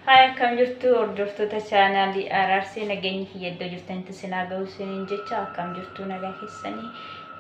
Haaya akkam jirtu hordoftoota chaanaalii Araarsee nageenyi kiyya iddoo jirtanitti sinaa ga'u siniin jecha akkam jirtu nagaa keessanii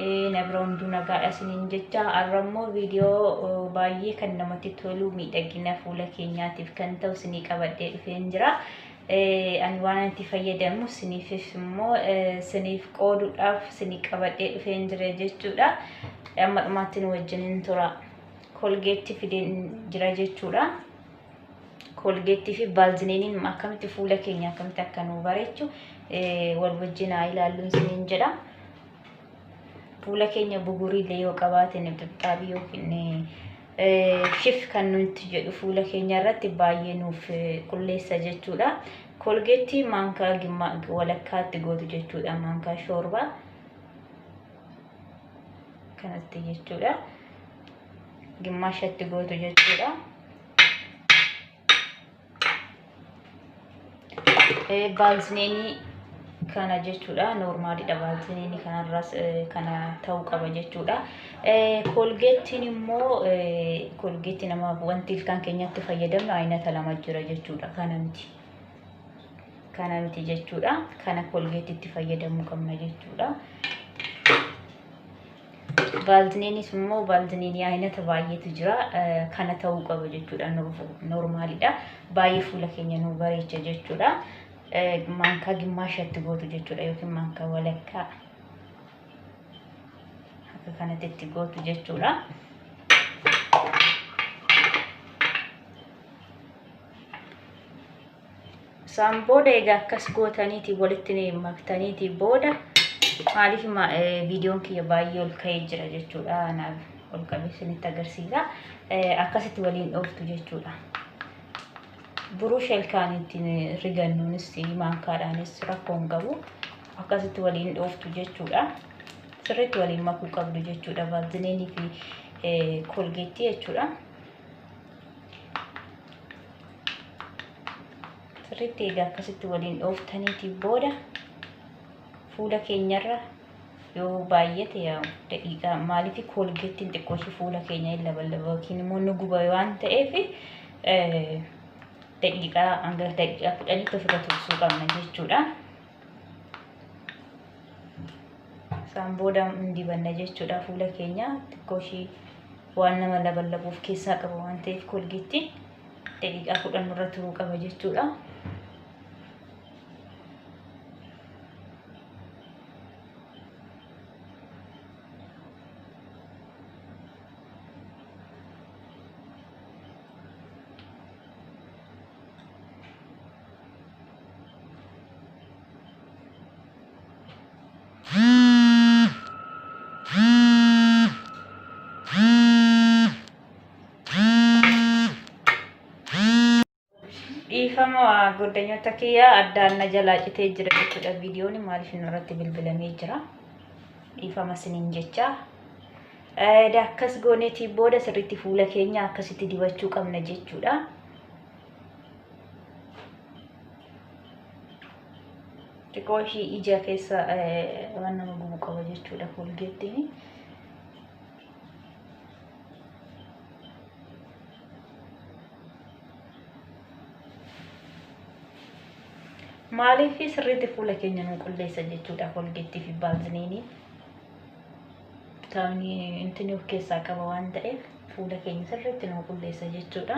eh, na bira hunduu nagaadha siniin jecha har'a immoo viidiyoo oh, baay'ee kan namatti tolu miidhagina fuula keenyaatiif kan ta'u sinii qabadhee dhufeen jira. Eh, Ani waan itti fayyadamu siniifis immoo eh, siniif qooduudhaaf sinii qabadhee dhufeen jira jechuudha. Amma dhumaatti nu wajjin hin tura. kolgeetti fideen jira jechuudha. Kolgeettii fi baalzineeniin akkamitti fuula keenya akkamitti akka nu bareechu wal wajjin haa ilaalluun isiniin jedha. Fuula keenya buguriillee yoo qabaatan xixxaabii yookiin shif kan nuti jedhu fuula keenya irratti baay'ee nuuf qulleessa jechuudha. Kolgeettii maankaa walakkaatti gootu jechuudha maankaa shoorbaa. kanatti jechuudha gimmaashatti gootu jechuudha baalzineenii kana jechuudha noormaaliidha baalzineenii kanarraas kana ta'uu qaba jechuudha koolgeettiin immoo koolgeettii nama wanti ilkaan keenyatti fayyadamnu aynata lama jira jechuudha kana miti kana miti jechuudha kana kolgeetitti fayyadamuu qabna jechuudha vaalziniinis immoo vaalziniinii aynata baay'eetu jira kana ta'uu qaba jechuudha noormaalidha baay'ee fuula keenya nu bareecha jechuudha maankaa gimmaashatti gootu jechuudha yookiin maankaa walakkaa akka kanatti itti gootu jechuudha. Isaan booda egaa akkas gootaniiti walitti maktaniiti booda maaliif viidiyoon kiyya baay'ee ol ka'ee jira jechuudha. Naaf ol qabee isinitti agarsiisa. Akkasitti waliin dhooftu jechuudha. Buruu shelkaan ittiin rigannuunis maankaadhaanis rakkoo hin qabu. Akkasitti waliin dhooftu jechuudha. Sirriitti waliin makuu qabdu jechuudha. Vaazilinii fi kolgeettii jechuudha. sirriitti egaa akkasitti waliin dhooftaniiti booda fuula keenyarra yoo baay'ate yaa daqiiqaa maaliif koolgeettiin xiqqoo ishee fuula keenya hin labalaba yookiin immoo nu guba waan ta'eef daqiiqaa hanga daqiiqaa kudhanitti ofirra tursuu qabna jechuudha. Isaan booda hin dibanna jechuudha fuula keenya xiqqoo ishee waan nama laballabu of keessaa qaba waan ta'eef kolgeetti daqiiqaa kudhan irra turuu qaba jechuudha. Dhiifama goddanyoota kiyyaa addaan na jalaa citee jira jechuudha viidiyoon maaliif inni irratti bilbilamee jira. Dhiifama siniin jecha. Eeda akkas gooneetii booda sirriitti fuula keenya akkasitti dibachuu qabna jechuudha. xiqqoo ishii ija keessa waan nama gubu qaba jechuudha koolgeettiin. Maaliif sirriitti fuula keenya nu qulleessa jechuudha koolgeettii fi baaziliinii. Vitaamini intini of keessaa qaba waan ta'eef fuula keenya sirriitti nu qulleessa jechuudha.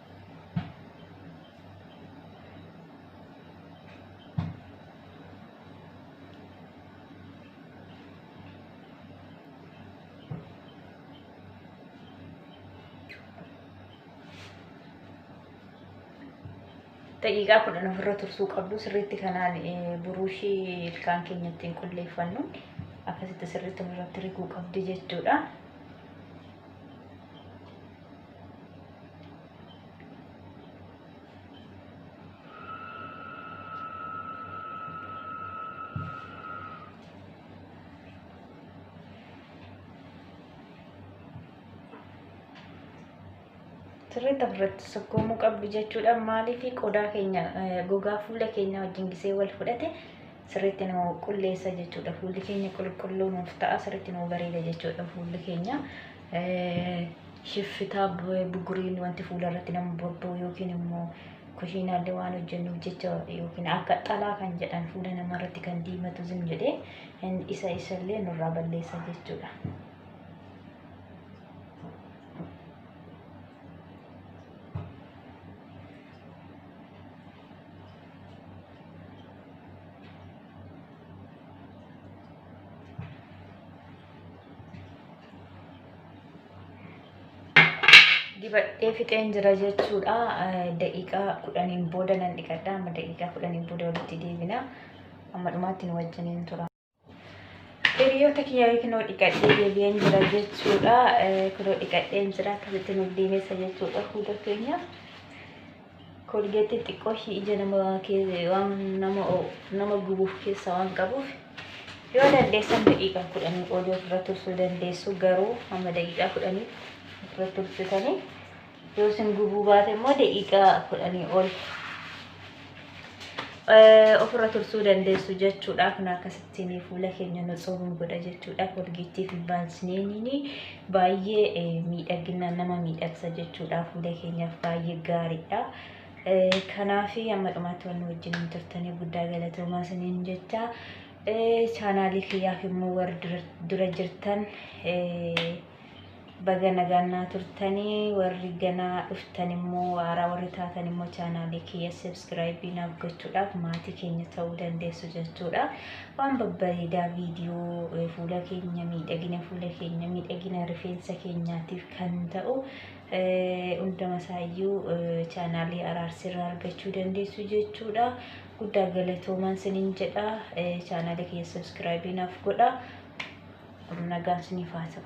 daqiiqaa kudhan ofirra tursuu qabdu sirriitti kanaan buruushii ilkaan keenya ittiin qulleeffannu akkasitti sirriitti ofirratti riguu qabdi jechuudha. sirriitti ofirratti sukkuumuu qabdu jechuudha. Maaliif qodaa keenya gogaa fuula keenya wajjin gisee wal fudhate sirriitti nu qulleessa jechuudha. Fuulli keenya qulqulluu nuuf ta'a sirriitti nu bareeda jechuudha fuulli keenya. Shiffitaa buguriin wanti fuula irratti nama bobba'u yookiin immoo kushiinaallee waan hojjennuuf jecha yookiin akka xalaa kan jedhan fuula namaa irratti kan diimatu zim jedhee isa isallee nurraa balleessa jechuudha. dibadhee fixeen jira jechuudha daqiiqaa kudhaniin booda nan dhiqadha amma daqiiqaa kudhaniin booda walitti deebina amma dhumaatti nu wajjiniin tura hiriyoota kiyyaa kunoo dhiqadhee deebi'een jira jechuudha kunoo dhiqadheen jira akkasitti nu deemessa jechuudha huda keenya Koolgeettiin xiqqoo ishii ija nama kee- waan nama o- nama gubuuf keessa waan qabuuf yoo dandeessan daqiiqaa kudhanii oli ofirra tursuu dandeessu garuu hamma daqiiqaa kudhanii ofirra tursitanii yoo isin gubuu baate immoo daqiiqaa kudhanii ol eh, ofirra tursuu dandeessu jechuudha kun akkasittiin fuula keenya nu tsuubuun godha jechuudha koolgeettii fi baaziliiniin baay'ee miidhagina nama miidhagsa jechuudha fuula keenyaaf baay'ee gaariidha. Kanaaf amma dhumaatti waan wajjin turtanii guddaa galatoomaa isiniin jecha chaanaalii kiyyaaf immoo warri dura jirtan baga nagaan naa turtanii warri ganaa dhuftan immoo haaraa warri taatan immoo chaanaalii kiyya sabskiraayibii naaf gochuudhaaf maatii keenya ta'uu dandeessu jechuudha. Waan babbareedaa viidiyoo eh, fuula keenya miidhagina fuula keenya miidhagina rifeensa keenyaatiif kan ta'u eh, hunduma isaayyuu eh, chaanaalii araarsirraa argachuu dandeessu jechuudha. Guddaa galatoomaan sinin jedha eh, chaanaalii kiyya sabskiraayibii naaf godha. Nagaan siniif haa ta'u.